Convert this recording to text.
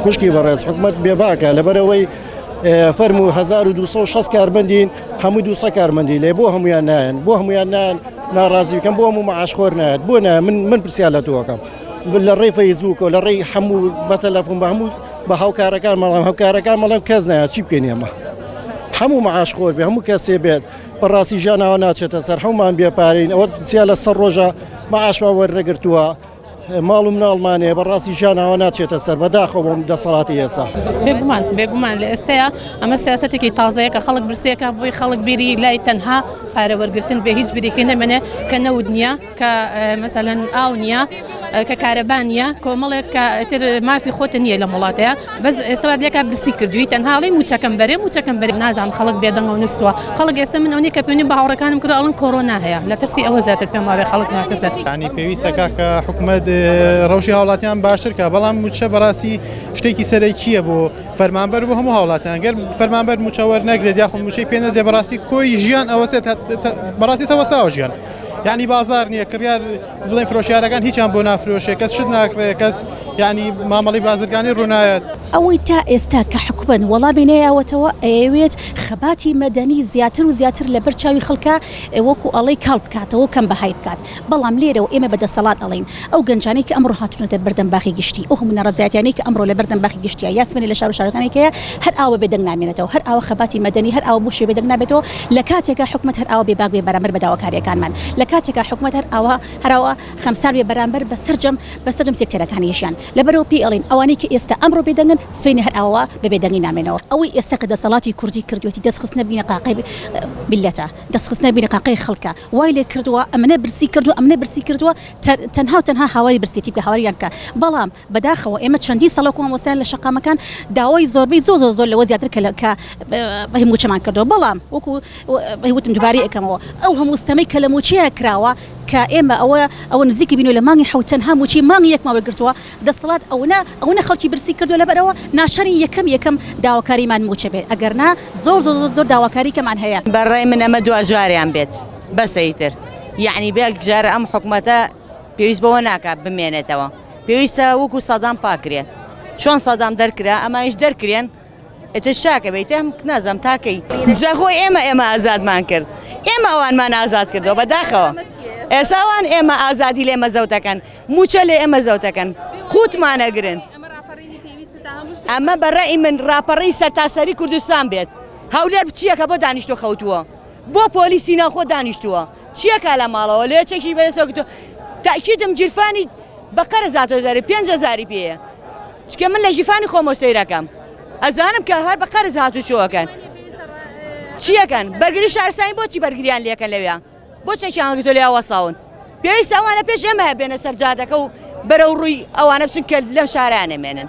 خوشکی بەڕێز حکومت بێباکە لەبەرەوەی فەرمو 1260 کاربندین هەموو دوسە کارمەندی لێ بۆ هەمویان نایەن بۆ هەمویان نایەن ناڕازی بکەم بۆ هەموو معاشخۆر نایەت بۆ نایە من من پرسیار لە تۆکەم لە ڕێی فەیسبووک و لە ڕێی هەموو بە تەلەفۆن بە هەموو بە هاوکارەکان مەڵام هەوکارەکان مەڵم کەس نایە چی بکەین ئێمە هەموو معاش خۆر بێ هەموو کەسێ بێت بەڕاستی ژیانەوە ناچێتە سەر هەمومان بێپارین ئەوە سیا لە سەر ڕۆژە معاشمان وەرنەگرتووە ماڵ و مناڵمانەیە بەڕاستی ژیان ئاوا ناچێتە سەر بەداخەوە بۆم دەسەڵاتی ئێسا بێگومان بێگومان لە ئێستەیە ئەمە سیاستێکی تازەیە کە خەڵک برسێکە بۆی خەڵک بیری لای تەنها پارە وەرگتن بێ هیچ بریکی نەمێنێ کە نەود نییە کە مەسەەن ئاو نییە کە کارەبانە کۆمەڵێک کە ئەتر مافی خۆتە نییە لە وڵاتەیە بەس ئێستا وات لێکا برسی کردوی تەنها ئەڵێی موچەکەم بەرێ موچەکەم بەرێ نازانم خەڵک بێدەنگە و نوستووە خەڵک ئێستا من ئەونی کە پێنی بە هاوڕەکانم کردو ئەڵن کۆرۆنا هەیە لە ترسی ئەوە زیاتر پێم وابێ خەڵک ناترسێ یانی پێویستە کاکە حکومەت ڕەوشی هاوڵاتیان باشتر کە بەڵام موچە بەڕاستی شتێکی سەرەکیە بۆ فەرمانبەر بۆ هەموو هاوڵاتیان گەر فەرمانبەر موچە وەرنەگرێت یاخۆ موچەی پێ نەدێ بەڕاستی کۆی ژیان ئەوەسێت بەڕاستی سەوەساوە ژیان یانی بازار نییە کڕیار بڵێن فرۆشیارەکان هیچیان بۆ نافرۆشێ کەس شت ناکڕێ کەس یعنی مامەڵی بازرگانی ڕوونایەت. ئەوەی تا ئێستا کە حکومەت وەڵامی نەیاوەتەوە ئەیەوێت خەباتی مەدەنی زیاتر و زیاتر لەبەر چاوی خەڵکا وەکو ئەڵێی کاڵ بکاتەوە و کەم بەهای بکات بەڵام لێرەوە ئێمە بە دەسەڵات ئەڵێین ئەو گەنجانەی کە ئەمڕۆ هاتونەتە بەردەم باخی گشتی ئەو هەموو نەڕەزایەتیانەی کە ئەمڕۆ لەبەردەم باخی گشتیا یا سبەینێ لە شارو شارەکانی کەیە هەر ئاوە بێدەنگ نامێنێتەوە هەر ئاوە خەباتی مەدەنی هەر ئاوە بۆ شێ بێدەنگ نابێتەوە لە کاتێکا حکومەت هەر ئاوا بێباک بێ بەرامبەر بە داواکارییەکانمان، لە کاتێکا حکومەت هەر ئاوا هەر ئاوا خەمسار بێ بەرامبەر بە سەرجەم بە سەرجەم سێکتەرەکانیشیان، لەبەرئەوە پێی ئەڵێین ئەوانەی کە ئێستا ئەمڕۆ بێدەنگن سبەینێ هەر ئاوا بە بێدەنگی نامێنەوە. ئەوەی ئێستا کە دەسەڵاتی کوردی کردوویەتی دەست خستنە بینی قاقی میللەتە، دەست خستنە بینی قاقی خەڵکە، وای لێ کردووە ئەمنە برسی کردووە ئەمنە برسی کردووە، تەنها و تەنها هاواری برسێتی بکە هاواریان بکە، بەڵام. بەداخەوە ئێمە چەندین ساڵە وەکو مامۆستایان لە شەقامەکان داوای زۆربەی زۆر زۆر زۆر لەوە زیاتر کە کە هی مووچەمان کردووە بەڵام وەکو وتم دوبارەی ئەکەمەوە ئەو هەموو ستەمەی کە لە مووچەیە کراوە کە ئێمە ئەوە ئەوە نزیکی بینوە لە مانگی حەوت تەنها مووچەی مانگی یەکمان وەرگرتووە دەسەڵات ئەونە ئەونە خەڵکی برسی کردووە لەبەرئەوە ناشرین یەکەم یەکەم داواکاریمان مووچە بێت ئەگەر نا زۆر زۆر زۆر زۆر داواکاری کەمان هەیە. بەڕای من ئەمە دواجاریان بێت بەسە ئیتر یەعنی بەیەکجار ئەم حکومەتە پێویست بەوە ناکات بمێنێتەوە. پێویستە وەکو سەدام پاکرێن چۆن سەدام دەرکرا ئەمانیش دەرکرێن ئێتە شاکە بیتم نازم تاکەی جەخۆ ئێمە ئێمە ئازادمان کرد ئێمە ئەوانمان ئازاد کردەوە بەداخەوە ئێساوان ئێمە ئازادی لێ مەزەوتەکەن موچە لێ ئێمە زەوتەکەن قوتمانەگرن ئەمە بەڕێی من ڕاپەڕی سەرتاسەری کوردستان بێت هەولێر بچیەکە بۆ دانیشتۆ خەوتووە بۆ پۆلیسی ناوخۆ دانیشتووە چیە کا لە ماڵەوە لێ چەکی بەدەستەوە گرتووە تەئکیدم گیرفانی بە قەرز هاتۆتە دەرێ پێنج هەزاری پێیە چونکە من لە گیرفانی خۆمەوە سەیرەکەم ئەزانم کە هەر بە قەرز هاتوچۆکەن چیەکەن بەرگری شارستانی بۆچی بەرگریان لەکە لەوێ بۆ چەکیان هەڵگرتۆ لێ وەساون پێویستە ئەوانە پێش ئێمە بێنە سەر جادەکە و بەرەو ڕووی ئەوانە بچن کە لەم شارانە مێنن